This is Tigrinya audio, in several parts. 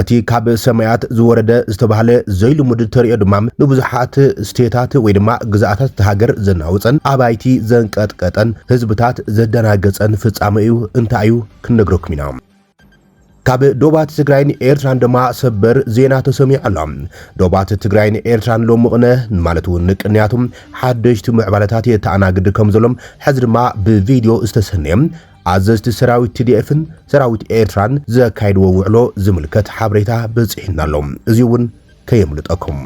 እቲ ካብ ሰማያት ዝወረደ ዝተባህለ ዘይልሙድ ተርእዮ ድማ ንብዙሓት ስቴታት ወይ ድማ ግዝኣታት እታ ሃገር ዘናወጸን ኣባይቲ ዘንቀጥቀጠን ህዝብታት ዘደናገጸን ፍጻመ እዩ። እንታይ እዩ? ክንነግረኩም ኢና። ካብ ዶባት ትግራይን ኤርትራን ድማ ሰበር ዜና ተሰሚዑ ኣሎ። ዶባት ትግራይን ኤርትራን ሎሚ ቅነ ማለት እውን ንቅንያቱ ሓደሽቲ ምዕባለታት የተኣናግድ ከም ዘሎም ሕዚ ድማ ብቪድዮ ዝተሰነየ ኣዘዝቲ ሰራዊት ቲዲኤፍን ሰራዊት ኤርትራን ዘካየድዎ ውዕሎ ዝምልከት ሓበሬታ በጺሑና ኣሎ። እዚ'ውን ከየምልጠኩም።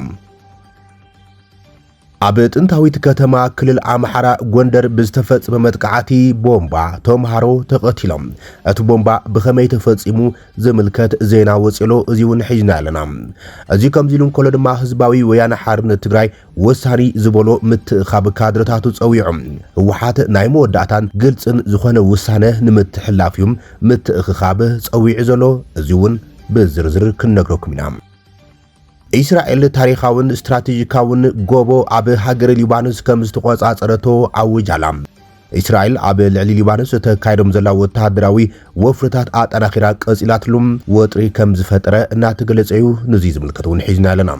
ኣብ ጥንታዊት ከተማ ክልል ኣምሓራ ጎንደር ብዝተፈጽመ መጥቃዕቲ ቦምባ ተምሃሮ ተቐቲሎም። እቲ ቦምባ ብኸመይ ተፈጺሙ ዝምልከት ዜና ወጺሎ እዚ'ውን ሒዝና ኣለና። እዚ ከምዚ ኢሉ እንከሎ ድማ ህዝባዊ ወያነ ሓርነት ትግራይ ወሳኒ ዝበሎ ምትእኻብ ካድረታቱ ፀዊዑ። ህወሓት ናይ መወዳእታን ግልፅን ዝኾነ ውሳነ ንምትሕልላፍ እዩ ምትእኽኻብ ፀዊዑ ዘሎ፣ እዚ እውን ብዝርዝር ክንነግረኩም ኢና። እስራኤል ታሪኻውን ስትራቴጂካውን ጎቦ ኣብ ሃገረ ሊባኖስ ከም ዝተቖፃፀረቶ ኣዊጃ'ላ። እስራኤል ኣብ ልዕሊ ሊባኖስ እተካይዶም ዘላ ወተሃደራዊ ወፍርታት ኣጠናኺራ ቀፂላትሉ ወጥሪ ከም ዝፈጠረ እናተገለፀ እዩ፣ ንዙይ ዝምልከት እውን ሒዝናዮ ኣለና።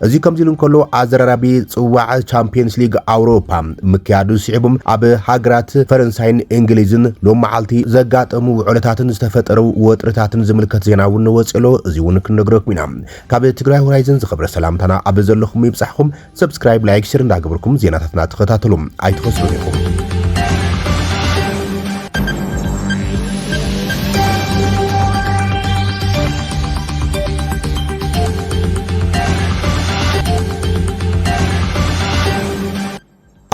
እዚ ከምዚ ኢሉ እንከሎ ኣዘራራቢ ጽዋዕ ቻምፒየንስ ሊግ ኣውሮፓ ምክያዱ ስዒቡ ኣብ ሃገራት ፈረንሳይን እንግሊዝን ሎም መዓልቲ ዘጋጠሙ ውዕሎታትን ዝተፈጠሩ ወጥርታትን ዝምልከት ዜና እውን ወጺኡ ኣሎ። እዚ እውን ክንነግረኩም ኢና። ካብ ትግራይ ሆራይዘን ዝኸበረ ሰላምታና ኣብ ዘለኹም ይብጻሕኩም። ሰብስክራይብ ላይክ ሸር እንዳገበርኩም ዜናታትና ተኸታተሉ ኣይትኸስሩን ኢኹም።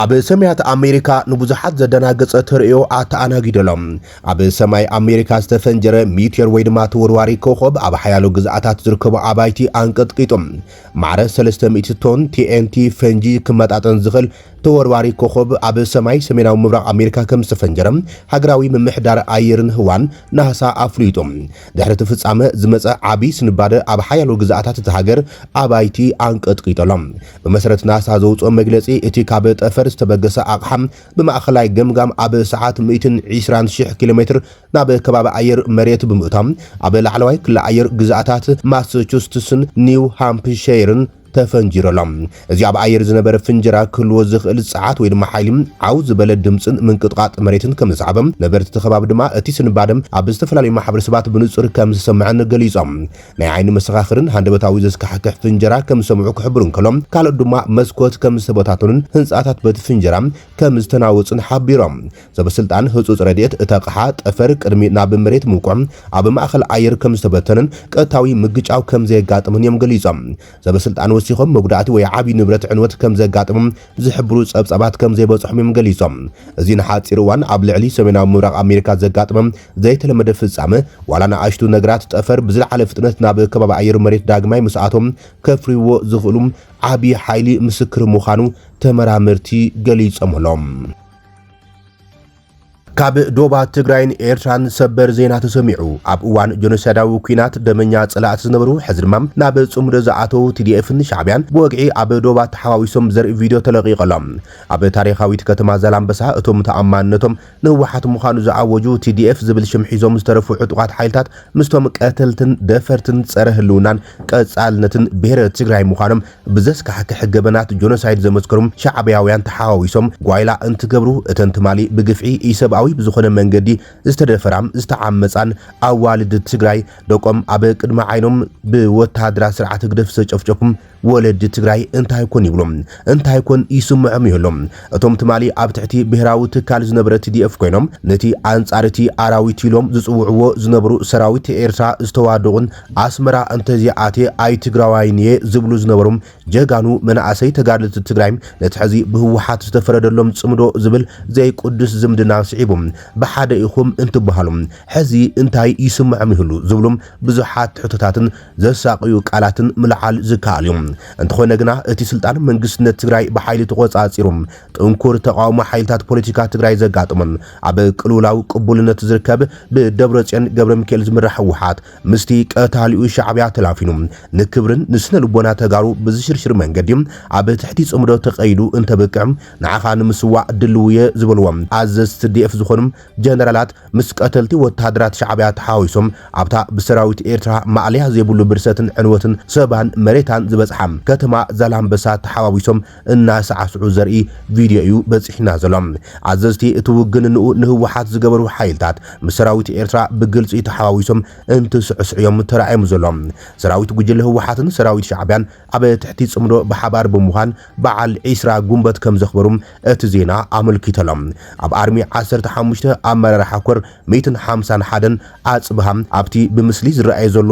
ኣብ ሰማያት ኣሜሪካ ንብዙሓት ዘደናገጸ ተርእዮ ኣተኣናጊደሎም ኣብ ሰማይ ኣሜሪካ ዝተፈንጀረ ሚትዮር ወይ ድማ ተወርዋሪ ኮኸብ ኣብ ሓያሎ ግዝኣታት ዝርከቡ ኣባይቲ ኣንቀጥቂጦም ማዕረ 300 ቶን ቲኤንቲ ፈንጂ ክመጣጠን ዝኽእል ተወርዋሪ ኮኾብ ኣብ ሰማይ ሰሜናዊ ምብራቕ ኣሜሪካ ከም ዝተፈንጀረ ሃገራዊ ምምሕዳር ኣየርን ህዋን፣ ናህሳ፣ ኣፍሊጡ። ድሕሪ እቲ ፍጻመ ዝመጸ ዓቢ ስንባደ ኣብ ሓያሎ ግዝኣታት እታ ሃገር ኣባይቲ ኣንቀጥቂጡ ኣሎ። ብመሰረት ናሳ ዘውጽኦ መግለጺ፣ እቲ ካብ ጠፈር ዝተበገሰ ኣቕሓ ብማእከላይ ገምጋም ኣብ ሰዓት ሚእትን ዒስራን ሽሕ ኪሎሜትር ናብ ከባቢ ኣየር መሬት ብምእታው ኣብ ላዕለዋይ ክሊ ኣየር ግዝኣታት ማሰቹስትስን ኒው ሃምፕሸይርን ተፈንጂሩ'ሎ። እዚ ኣብ ኣየር ዝነበረ ፍንጀራ ክህልዎ ዝኽእል ጸዓት ወይ ድማ ሓይሊ፣ ዓው ዝበለ ድምጽን ምንቅጥቓጥ መሬትን ከም ዘስዓበ፣ ነበርቲ እቲ ከባቢ ድማ እቲ ስንባደ ኣብ ዝተፈላለዩ ማሕበረሰባት ብንጹር ከም ዝሰመዐን ገሊጾም። ናይ ዓይኒ መሰኻኽርን ሃንደበታዊ ዘስካሕክሕ ፍንጀራ ከም ዝሰምዑ ክሕብሩ እንከሎ፣ ካልኦት ድማ መስኮት ከም ዝተበታተኑን ህንጻታት በቲ ፍንጀራ ከም ዝተናወጹን ሓቢሮም። ሰበስልጣን ህጹጽ ረድኤት እቲ ኣቕሓ ጠፈር ቅድሚ ናብ መሬት ምውቅዑ ኣብ ማእከል ኣየር ከም ዝተበተነን ቀጥታዊ ምግጫው ከም ዘየጋጥምን እዮም ገሊጾም። ሰበስልጣን ወሲኾም መጉዳእቲ ወይ ዓቢ ንብረት ዕንወት ከም ዘጋጠሞም ዝሕብሩ ጸብጻባት ከም ዘይበጽሖም እዮም ገሊጾም። እዚ ንሓጺር እዋን ኣብ ልዕሊ ሰሜናዊ ምብራቕ ኣሜሪካ ዘጋጠመ ዘይተለመደ ፍጻመ፣ ዋላ ንኣሽቱ ነገራት ጠፈር ብዝለዓለ ፍጥነት ናብ ከባቢ ኣየር መሬት ዳግማይ ምስ ኣተው ከፍርይዎ ዝኽእሉ ዓቢ ሓይሊ ምስክር ምዃኑ ተመራመርቲ ገሊጾም'ሎም። ካብ ዶባ ትግራይን ኤርትራን ሰበር ዜና ተሰሚዑ። ኣብ እዋን ጆኖሳይዳዊ ኩናት ደመኛ ጸላእቲ ዝነበሩ ሕዚ ድማ ናብ ጽምዶ ዝኣተዉ ቲዲኤፍን ሻዕብያን ብወግዒ ኣብ ዶባ ተሓዋዊሶም ዘርኢ ቪድዮ ተለቂቑ ኣሎ። ኣብ ታሪኻዊት ከተማ ዛላምበሳ እቶም ተኣማንነቶም ንህወሓት ምዃኑ ዝኣወጁ ቲዲኤፍ ዝብል ሽም ሒዞም ዝተረፉ ዕጡቓት ሓይልታት ምስቶም ቀተልትን ደፈርትን ጸረ ህልውናን ቀጻልነትን ብሄረ ትግራይ ምዃኖም ብዘስካሕክሕ ገበናት ጆኖሳይድ ዘመስከሩ ሻዕብያውያን ተሓዋዊሶም ጓይላ እንትገብሩ እተን ትማሊ ብግፍዒ ኢሰብኣዊ ብዝኾነ መንገዲ ዝተደፈራ ዝተዓመጻን ኣዋልድ ትግራይ ደቆም ኣብ ቅድሚ ዓይኖም ብወታሃደራት ስርዓት ህግደፍ ዝተጨፍጨፉ ወለዲ ትግራይ እንታይ ኮን ይብሉ እንታይ ኮን ይስምዖም ይህሉ እቶም ትማሊ ኣብ ትሕቲ ብሄራዊ ትካል ዝነበረ ቲዲኤፍ ኮይኖም ነቲ ኣንጻር እቲ ኣራዊት ኢሎም ዝጽውዕዎ ዝነበሩ ሰራዊት ኤርትራ ዝተዋደቑን ኣስመራ እንተዘይኣትየ ኣይትግራዋይን እየ ዝብሉ ዝነበሩ ጀጋኑ መናእሰይ ተጋደልቲ ትግራይ ነቲ ሕዚ ብህወሓት ዝተፈረደሎም ፅምዶ ዝብል ዘይቁዱስ ዝምድና ስዒቡ ብሓደ ኢኹም እንትበሃሉ ሕዚ እንታይ ይስመዖም ይህሉ ዝብሉ ብዙሓት ትሕቶታትን ዘሳቕዩ ቃላትን ምልዓል ዝከኣል እዩ። እንተኾነ ግና እቲ ስልጣን መንግስትነት ትግራይ ብሓይሊ ተቖፃፂሩ ጥንኩር ተቓውሞ ሓይልታት ፖለቲካ ትግራይ ዘጋጥሞን ኣብ ቅልውላው ቅቡልነት ዝርከብ ብደብረጽዮን ገብረሚካኤል ዝምራሕ ህወሓት ምስቲ ቀታሊኡ ሻዕብያ ተላፊኑ ንክብርን ንስነልቦና ተጋሩ ብዝሽርሽር መንገዲ ኣብ ትሕቲ ጽምዶ ተቐይዱ እንተብቅዕ ንዓኻ ንምስዋእ ድልውየ ዝበልዎም ኣዘዝቲ ትዲኤፍ ዝኾኑ ጀነራላት ምስ ቀተልቲ ወተሃደራት ሻዕብያ ተሓዋዊሶም ኣብታ ብሰራዊት ኤርትራ ማእለያ ዘይብሉ ብርሰትን ዕንወትን ሰባን መሬታን ዝበጽሓ ከተማ ዛላምበሳ ተሓዋዊሶም እናሳዕስዑ ዘርኢ ቪድዮ እዩ በጺሕና ዘሎ። ኣዘዝቲ እቲ ውግንንኡ ንህወሓት ዝገበሩ ሓይልታት ምስ ሰራዊት ኤርትራ ብግልጺ ተሓዋዊሶም እንትስዕስዑ እዮም ተራእዮም ዘሎም። ሰራዊት ጉጅለ ህወሓትን ሰራዊት ሻዕቢያን ኣብ ትሕቲ ጽምዶ ብሓባር ብምዃን በዓል ዒስራ ጉንበት ከምዘኽበሩ እቲ ዜና ኣመልኪተሎ። ኣብ ኣርሚ ዓሰርተ ሓሙሽተ ኣመራርሓ ኮር ሚትን ሓምሳን ሓደን ኣጽብሃ ኣብቲ ብምስሊ ዝረኣይ ዘሎ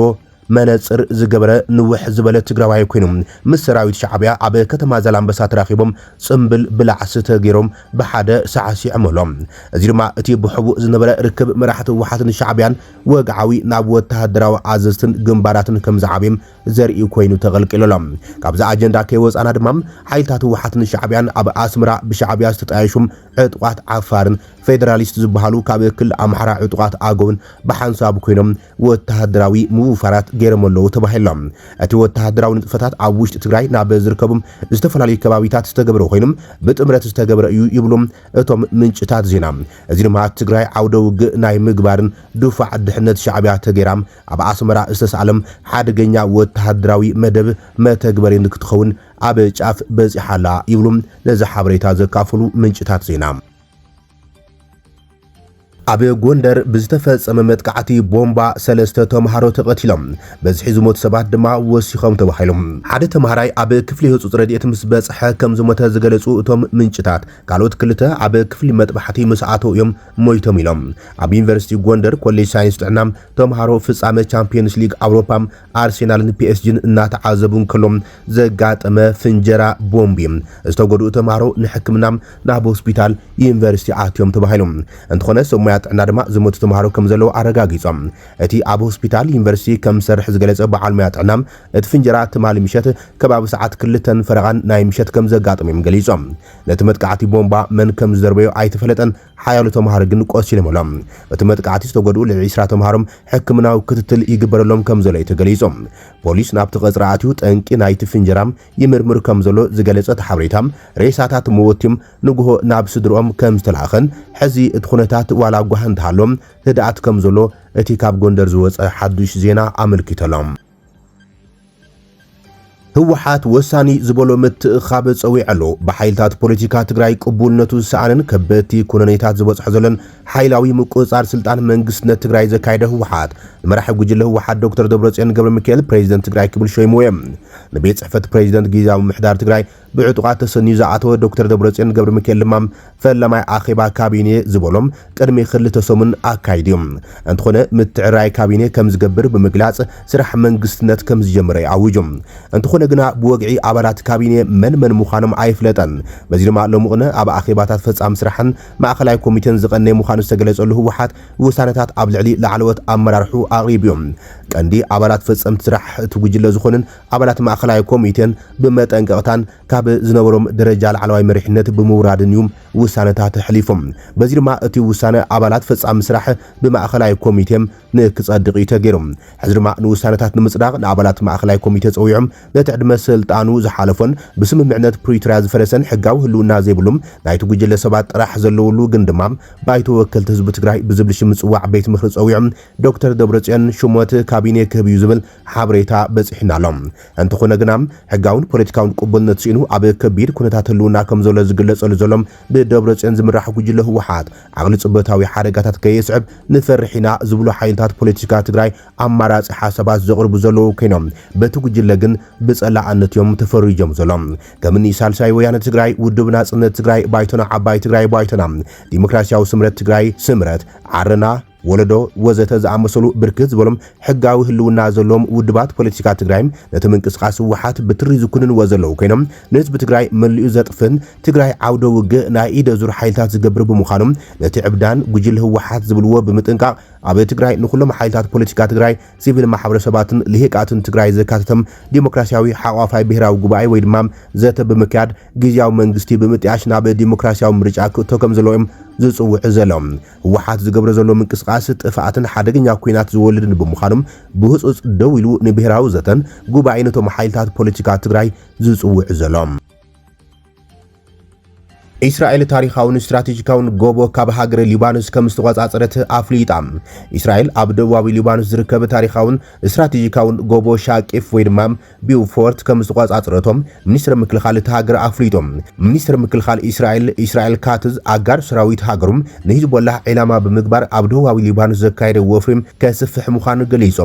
መነጽር ዝገበረ ንውሕ ዝበለ ትግራዋይ ኮይኑ ምስ ሰራዊት ሻዕቢያ ኣብ ከተማ ዛላምበሳ ተራኺቦም ጽምብል ብላዕ ስተ ጌሮም ብሓደ ሳዕሲዕምሎም። እዚ ድማ እቲ ብሕቡእ ዝነበረ ርክብ መራሕቲ ህወሓትን ሻዕቢያን ወግዓዊ ናብ ወተሃደራዊ ኣዘዝትን ግንባራትን ከምዝዓብም ዘርኢ ኮይኑ ተቐልቂሉ ኣሎ። ካብዚ ኣጀንዳ ከይወጻእና ድማ ሓይልታት ህወሓትን ሻዕቢያን ኣብ ኣስመራ ብሻዕቢያ ዝተጣየሹ ዕጡቓት ዓፋርን ፌደራሊስት ዝበሃሉ ካብ ክልል ኣምሓራ ዕጡቓት ኣገውን ብሓንሳብ ኮይኖም ወተሃደራዊ ምውፋራት ገይሮም ኣለዉ ተባሂሎም። እቲ ወተሃደራዊ ንጥፈታት ኣብ ውሽጢ ትግራይ ናብ ዝርከቡ ዝተፈላለዩ ከባቢታት ዝተገበረ ኮይኑ ብጥምረት ዝተገበረ እዩ ይብሉ እቶም ምንጭታት ዜና። እዚ ድማ ትግራይ ዓውደ ውግእ ናይ ምግባርን ድፋዕ ድሕነት ሻዕቢያ ተገይራ ኣብ ኣስመራ ዝተሳእለ ሓደገኛ ወተሃደራዊ መደብ መተግበሪን ክትኸውን ኣብ ጫፍ በጺሓ ኣላ ይብሉ ነዚ ሓበሬታ ዘካፈሉ ምንጭታት ዜና። ኣብ ጎንደር ብዝተፈጸመ መጥቃዕቲ ቦምባ ሰለስተ ተምሃሮ ተቐቲሎም፣ በዝሒ ዝሞቱ ሰባት ድማ ወሲኾም ተባሂሉ። ሓደ ተምሃራይ ኣብ ክፍሊ ህጹጽ ረድኤት ምስ በጽሐ ከም ዝሞተ ዝገለጹ እቶም ምንጭታት፣ ካልኦት ክልተ ኣብ ክፍሊ መጥባሕቲ ምስ ኣተዉ እዮም ሞይቶም ኢሎም። ኣብ ዩኒቨርሲቲ ጎንደር ኮሌጅ ሳይንስ ጥዕና ተምሃሮ ፍጻመ ቻምፕዮንስ ሊግ ኣውሮፓ ኣርሴናልን ፒኤስጂን እናተዓዘቡ እንከሎ ዘጋጠመ ፍንጀራ ቦምብ እዩ። ዝተጎድኡ ተምሃሮ ንሕክምና ናብ ሆስፒታል ዩኒቨርሲቲ ኣትዮም ተባሂሉ። እንተኾነ ሰብ ሞያ ጥዕና ድማ ዝሞቱ ተምሃሮ ከምዘለዉ ኣረጋጊጾም። እቲ ኣብ ሆስፒታል ዩኒቨርሲቲ ከም ዝሰርሕ ዝገለጸ በዓል ሞያ ጥዕና፣ እቲ ፍንጀራ ትማሊ ምሸት ከባቢ ሰዓት ክልተን ፈረቓን ናይ ምሸት ከምዘጋጠመ'ዮም ገሊጾም። ነቲ መጥቃዕቲ ቦምባ መን ከምዝደርበዮ ኣይተፈለጠን። ሓያሎ ተምሃሮ ግን ቆሲሎም ኣሎም። በቲ መጥቃዕቲ ዝተጎድኡ ልዕሊ ዒስራ ተምሃሮ ሕክምናዊ ክትትል ይግበረሎም ከምዘሎ'ዩ ተገሊጹ። ፖሊስ ናብቲ ቀጽሪ ኣትዩ ጠንቂ ናይቲ ፍንጀራ ይምርምር ከምዘሎ ዝገለጸ እቲ ሓበሬታ፣ ሬሳታት መወቲ ንጉሆ ናብ ስድርኦም ከምዝተላእከን ሕዚ እቲ ኩነታት ዋላ ጓሂ እንተሃሎ ህድኣት ከምዘሎ እቲ ካብ ጎንደር ዝወጸ ሓዱሽ ዜና ኣመልኪቱ ኣሎ። ህወሓት ወሳኒ ዝበሎ ምትእኻብ ጸዊዑ ኣሎ። ብሓይልታት ፖለቲካ ትግራይ ቅቡልነቱ ዝሰኣነን ከበድቲ ኩነኔታት ዝበጽሖ ዘሎን ሓይላዊ ምቁጽጻር ስልጣን መንግስትነት ትግራይ ዘካየደ ህወሓት ንመራሒ ጉጅለ ህወሓት ዶክተር ደብረጽዮን ገብረሚካኤል ፕሬዚደንት ትግራይ ክብል ሾይምዎ። ንቤት ጽሕፈት ፕሬዚደንት ጊዜያዊ ምምሕዳር ትግራይ ብዕጡቓት ተሰንዩ ዝኣተወ ዶክተር ደብረጽዮን ገብረሚካኤል ድማ ፈላማይ ኣኼባ ካቢኔ ዝበሎም ቅድሚ ክልተ ሰሙን ኣካይዱ'ዩ። እንተኾነ ምትዕርራይ ካቢኔ ከምዝገብር ብምግላጽ ስራሕ መንግስትነት ከምዝጀመረ'ዩ ኣዊጁ። እንተኾነ ግና ብወግዒ ኣባላት ካቢኔ መን መን ምዃኖም ኣይፍለጠን። በዚ ድማ ሎሚቕነ ኣብ ኣኼባታት ፈጻሚ ስራሕን ማእከላይ ኮሚቴን ዝቐነየ ምዃኑ ዝተገለጸሉ ህወሓት ውሳነታት ኣብ ልዕሊ ላዕለዎት ኣመራርሕኡ ኣቕሪቡ'ዩ። ቀንዲ ኣባላት ፈጸምቲ ስራሕ እቲ ጉጅለ ዝኾኑን ኣባላት ማእኸላይ ኮሚቴን ብመጠንቀቕታን ካብ ዝነበሮም ደረጃ ላዕለዋይ መሪሕነት ብምውራድን እዩ ውሳነታት ኣሕሊፉ። በዚ ድማ እቲ ውሳነ ኣባላት ፈፃሚ ስራሕ ብማእኸላይ ኮሚቴ ንክፀድቕ እዩ ተገይሩ። ሕዚ ድማ ንውሳነታት ንምፅዳቕ ንኣባላት ማእኸላይ ኮሚቴ ፀዊዖም ነቲ ዕድመ ስልጣኑ ዝሓለፎን ብስምምዕነት ፕሪቶርያ ዝፈረሰን ሕጋዊ ህልውና ዘይብሉ ናይቲ ጉጅለ ሰባት ጥራሕ ዘለውሉ ግን ድማ ባይቶ ወከልቲ ህዝቢ ትግራይ ብዝብል ሽም ዝፅዋዕ ቤት ምኽሪ ፀዊዖም ዶክተር ደብረፅዮን ሹመት ካቢኔ ክህብ እዩ ዝብል ሓበሬታ በጺሑና ኣሎ። እንተኾነ ግና ሕጋውን ፖለቲካውን ቅቡልነት ስኢኑ ኣብ ከቢድ ኩነታት ህልውና ከም ዘሎ ዝግለጸሉ ዘሎ ብደብረጽዮን ዝምራሕ ጉጅለ ህወሓት ዓቕሊ ጽበታዊ ሓደጋታት ከየስዕብ ንፈርሕ ኢና ዝብሉ ሓይልታት ፖለቲካ ትግራይ ኣማራጺ ሓሳባት ዘቕርቡ ዘለዉ ኮይኖም በቲ ጉጅለ ግን ብጸላኣነት እዮም ተፈሪጆም ዘሎም። ከም እኒ ሳልሳይ ወያነ ትግራይ፣ ውድብ ናጽነት ትግራይ፣ ባይቶና ዓባይ ትግራይ፣ ባይቶና ዲሞክራሲያዊ ስምረት ትግራይ፣ ስምረት ዓረና፣ ወለዶ ወዘተ ዝኣመሰሉ ብርክት ዝበሉ ሕጋዊ ህልውና ዘለዎም ውድባት ፖለቲካ ትግራይ ነቲ ምንቅስቓስ ህወሓት ብትሪ ዝኩንንዎ ዘለዉ ኮይኖም ንህዝቢ ትግራይ መሊኡ ዘጥፍእን ትግራይ ዓውደ ውግእ ናይ ኢደ ዙር ሓይልታት ዝገብር ብምዃኑ ነቲ ዕብዳን ጉጅለ ህወሓት ዝብልዎ ብምጥንቃቕ ኣብ ትግራይ ንኹሎም ሓይልታት ፖለቲካ ትግራይ፣ ሲቪል ማሕበረሰባትን ልሂቃትን ትግራይ ዘካተተ ዲሞክራሲያዊ ሓቋፋይ ብሄራዊ ጉባኤ ወይ ድማ ዘተ ብምክያድ ግዝያዊ መንግስቲ ብምጥያሽ ናብ ዲሞክራሲያዊ ምርጫ ክእቶ ከምዘለዎ እዮም ዝፅውዑ ዘለዉ። ህወሓት ዝገብሮ ዘሎ ምንቅስቓስ ጥፍኣትን ሓደገኛ ኲናት ዝወልድን ብምዃኑ ብህፁፅ ደው ኢሉ ንብሄራዊ ዘተን ጉባኤን እቶም ሓይልታት ፖለቲካ ትግራይ ዝፅውዕ ዘሎ። ኢስራኤል ታሪኻውን ስትራቴጂካውን ጎቦ ካብ ሃገረ ሊባኖስ ከም ዝተቖጻጸረት ኣፍሊጣ። ኢስራኤል ኣብ ደቡባዊ ሊባኖስ ዝርከብ ታሪኻውን ስትራቴጂካውን ጎቦ ሻቂፍ ወይ ድማ ቢውፎርት ከም ዝተቖጻጽረቶም ሚኒስትሪ ምክልኻል እታ ሃገር ኣፍሊጡ። ሚኒስትሪ ምክልኻል እስራኤል ኢስራኤል ካትዝ፣ ኣጋር ሰራዊት ሃገሩ ንሂዝቦላህ ዒላማ ብምግባር ኣብ ደቡባዊ ሊባኖስ ዘካየዶ ወፍሪ ከስፍሕ ምዃኑ ገሊጹ።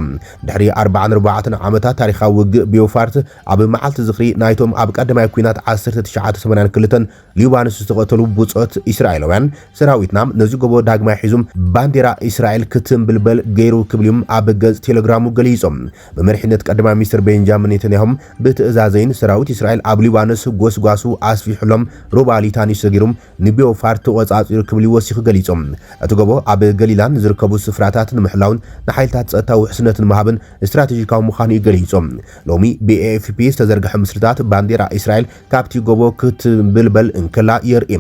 ድሕሪ ኣርባዓን ኣርባዕተን ዓመታት ታሪኻዊ ውግእ፣ ቢውፋርት ኣብ መዓልቲ ዝኽሪ ናይቶም ኣብ ቀዳማይ ኲናት ዓሰርተ ትሽዓተ ሰማንያን ክልተን፣ ሊባኖስ ዝተቐተሉ ብጾት እስራኤላውያን፣ ሰራዊትና ነዚ ጎቦ ዳግማይ ሒዙ ባንዴራ እስራኤል ክትንብልበል ገይሩ ክብል'ዩም ኣብ ገጽ ቴለግራሙ ገሊጾም። ብመሪሕነት ቀዳማይ ሚኒስተር ቤንጃሚን ኔተንያሁ ብትእዛዘይን ሰራዊት እስራኤል ኣብ ሊባኖስ ጎስጓሱ ኣስፊሑ'ሎም ሩባ ሊታኒ ሰጊሩ ንቤውፋርት ተቖጻጺሩ ክብሊ ወሲኹ ገሊጾም። እቲ ጎቦ ኣብ ገሊላ ንዝርከቡ ስፍራታት ንምሕላውን ንሓይልታት ጸጥታ ውሕስነት ንምሃብን ስትራቴጂካዊ ምዃኑ'ዩ ገሊጹ። ሎሚ ብኤኤፍፒ ዝተዘርግሐ ምስልታት ባንዴራ እስራኤል ካብቲ ጎቦ ክትምብልበል እንከላ የርኢ።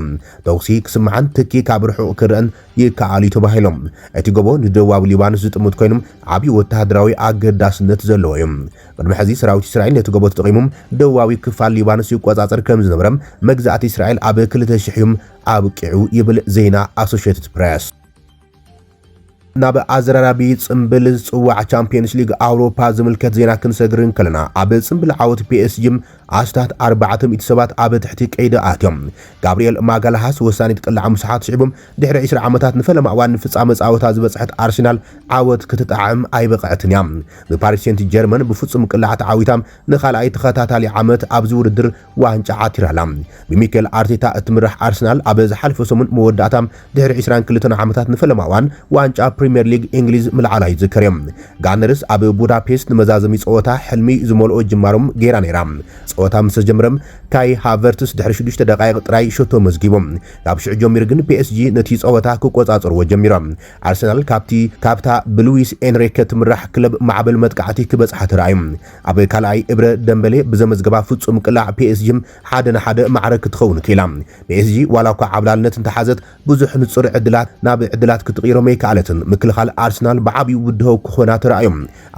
ተኹሲ ክስማዕን ትኪ ካብ ርሑቕ ክረኣን ይከኣል'ዩ ተባሂሉ። እቲ ጎቦ ንደቡባዊ ሊባኖስ ዝጥምት ኮይኑ ዓቢ ወተሃደራዊ ኣገዳስነት ዘለዎ'ዩ። ቅድሚ ሕዚ ሰራዊት እስራኤል ነቲ ጎቦ ተጠቒሙ ደቡባዊ ክፋል ሊባኖስ ይቆጻጸር ከምዝነበረ መግዛእቲ እስራኤል ኣብ ክልተ ሽሕ'ዩ ኣብቂዑ ይብል ዜና ኣሶሸትድ ፕረስ። ናብ ኣዘራራቢ ጽምብል ዝጽዋዕ ቻምፒየንስ ሊግ ኣውሮፓ ዝምልከት ዜና ክንሰግር እንከለና ኣብ ጽምብል ዓወት ፒኤስጂ ኣስታት 400 ሰባት ኣብ ትሕቲ ቀይዲ ኣትዮም። ጋብሪኤል ማጋላሃስ ወሳኒት ቅላዕ ምስ ሓትሽዒቡ ድሕሪ 20 ዓመታት ንፈለማ እዋን ንፍጻመ ጻወታ ዝበጽሐት ኣርሰናል ዓወት ክትጣዕም ኣይበቕዐትን እያ። ብፓሪስ ሴንት ጀርመን ብፍጹም ቅላዕ ተዓዊታ ንኻልኣይ ተኸታታሊ ዓመት ኣብዚ ውድድር ዋንጫ ዓቲራ ኣላ። ብሚኬል ኣርቴታ እትምራሕ ኣርሰናል ኣብ ዝሓለፈ ሰሙን መወዳእታ ድሕሪ ዕስራን ክልተን ዓመታት ንፈለማ እዋን ዋንጫ ፕሪምየር ሊግ እንግሊዝ ምልዓላ ይዝከር'ዩ። ጋነርስ ኣብ ቡዳፔስት ንመዛዘሚ ጸወታ ሕልሚ ዝመልኦ ጅማሮ ገይራ ነይራ። ጸወታ ምስ ተጀመረ ካይ ሃቨርትስ ድሕሪ ሽዱሽተ ደቓይቕ ጥራይ ሸቶ መዝጊቡ። ካብ ሽዑ ጀሚሩ ግን ፒኤስጂ ነቲ ጸወታ ክቆጻጸርዎ ጀሚሩ። ኣርሰናል ካብቲ ካብታ ብሉዊስ ኤንሪከ ትምራሕ ክለብ ማዕበል መጥቃዕቲ ክበጽሓ ተራእዩ። ኣብ ካልኣይ እብረ ደምበሌ ብዘመዝገባ ፍጹም ቅላዕ ፒኤስጂ ሓደ ን ሓደ ማዕረ ክትኸውን ክኢላ። ፒኤስጂ ዋላኳ ዓብላልነት እንተሓዘት ብዙሕ ንጹር ዕድላት ናብ ዕድላት ክትቕይሮም ኣይከኣለትን። ምክልኻል ኣርሰናል ብዓቢኡ ብድሆ ክኾና ተራእዮ።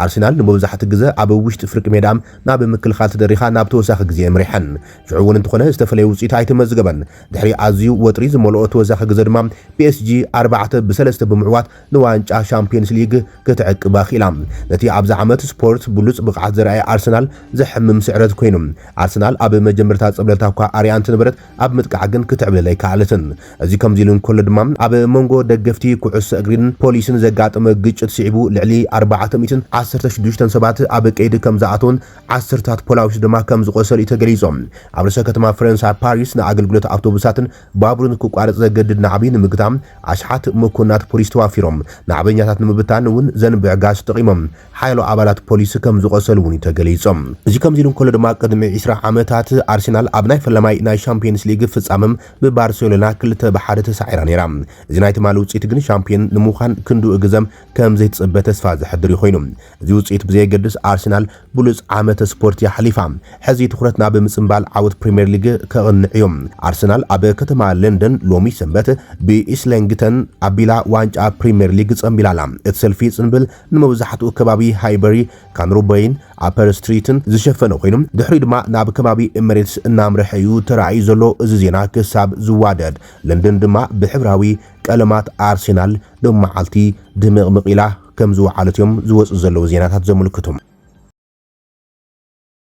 ኣርሰናል ንመብዛሕቱ ግዘ ኣብ ውሽጢ ፍርቂ ሜዳ ናብ ምክልኻል ተደሪኻ ናብ ተወሳኺ ግዜ ኣምሪሐን። ሽዑ እውን እንተኾነ ዝተፈለየ ውጽኢት ኣይተመዝገበን። ድሕሪ ኣዝዩ ወጥሪ ዝመልኦ ተወሳኺ ግዘ ድማ ፒኤስጂ ኣርባዕተ ብ ሰለስተ ብምዕዋት ንዋንጫ ሻምፕዮንስ ሊግ ክትዕቅባ ክኢላ። ነቲ ኣብዚ ዓመት ስፖርት ብሉጽ ብቕዓት ዘርኣየ ኣርሰናል ዘሕምም ስዕረት ኮይኑ። ኣርሰናል ኣብ መጀመርታ ጸብለልታ እኳ ኣርእያ እንተነበረት ኣብ ምጥቃዕ ግን ክትዕብልል ኣይከኣለትን። እዚ ከምዚ ኢሉ እንከሎ ድማ ኣብ መንጎ ደገፍቲ ኩዕሶ እግሪን ፖሊስን ዘጋጠመ ግጭት ስዒቡ ልዕሊ ኣርባዕተ ሚእትን ዓሰርተ ሽዱሽተን ሰባት ኣብ ቀይዲ ከምዝኣተዉን ዓሰርተታት ፖላዊስ ድማ ከምዝቖሰሉ'ዩ ተገሊጹ። ኣብ ርእሰ ከተማ ፈረንሳ ፓሪስ ንኣገልግሎት ኣውቶቡሳትን ባቡር ንክቋረጽ ዘገድድ ናዕቢ ንምግታእ ኣሽሓት መኮንናት ፖሊስ ተዋፊሮም። ናዕበኛታት ንምብታን እውን ዘንብዕ ጋዝ ተጠቒሞም። ሓያሎ ኣባላት ፖሊስ ከም ዝቖሰሉ እውን እዩ ተገሊጹ። እዚ ከምዚ ኢሉ እንከሎ ድማ ቅድሚ ዕስራ ዓመታት ኣርሰናል ኣብ ናይ ፈላማይ ናይ ሻምፕዮንስ ሊግ ፍጻመ ብባርሴሎና ክልተ ብ ሓደ ተሳዒራ ነይራ። እዚ ናይ ትማሊ ውጽኢት ግን ሻምፕዮን ንምዃን ክንድኡ ግዘ ከም ዘይትጽበ ተስፋ ዘሕድር እዩ ኮይኑ። እዚ ውጽኢት ብዘየገድስ ኣርሰናል ብሉጽ ዓመተ ስፖርት የሕሊፋ። ሕዚ ትኹረት ናብ ምጽንባል ዓወት ፕሪምየር ሊግ ከቕንዕ እዩ። ኣርሰናል ኣብ ከተማ ለንደን ሎሚ ሰንበት ብኢስለንግተን ኣቢላ ዋንጫ ፕሪምየር ሊግ ጸንቢላ ኣላ። እቲ ሰልፊ ጽንብል ንመብዛሕትኡ ከባቢ ሃይበሪ፣ ካንሩበይን ኣፐር ስትሪትን ዝሸፈነ ኮይኑ ድሕሪኡ ድማ ናብ ከባቢ ኤምሬትስ እናምርሐ እዩ ተራእዩ ዘሎ። እዚ ዜና ክሳብ ዝዋደድ ለንደን ድማ ብሕብራዊ ቀለማት ኣርሰናል ሎሚ መዓልቲ ድምቕምቕ ኢላ። ከም ዝወዓለት እዮም ዝወጽኡ ዘለዉ ዜናታት ዘምልክቱ።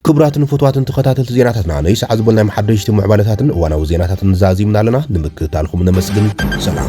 ክቡራትን ፍቱዋትን ተኸታተልቲ ዜናታትና ነይ ሰዓት ዝበልናዮም ሓደሽቲ ምዕባለታትን እዋናዊ ዜናታትን ዛዚምና ኣለና። ንምክትታልኩም ነመስግን። ሰላም።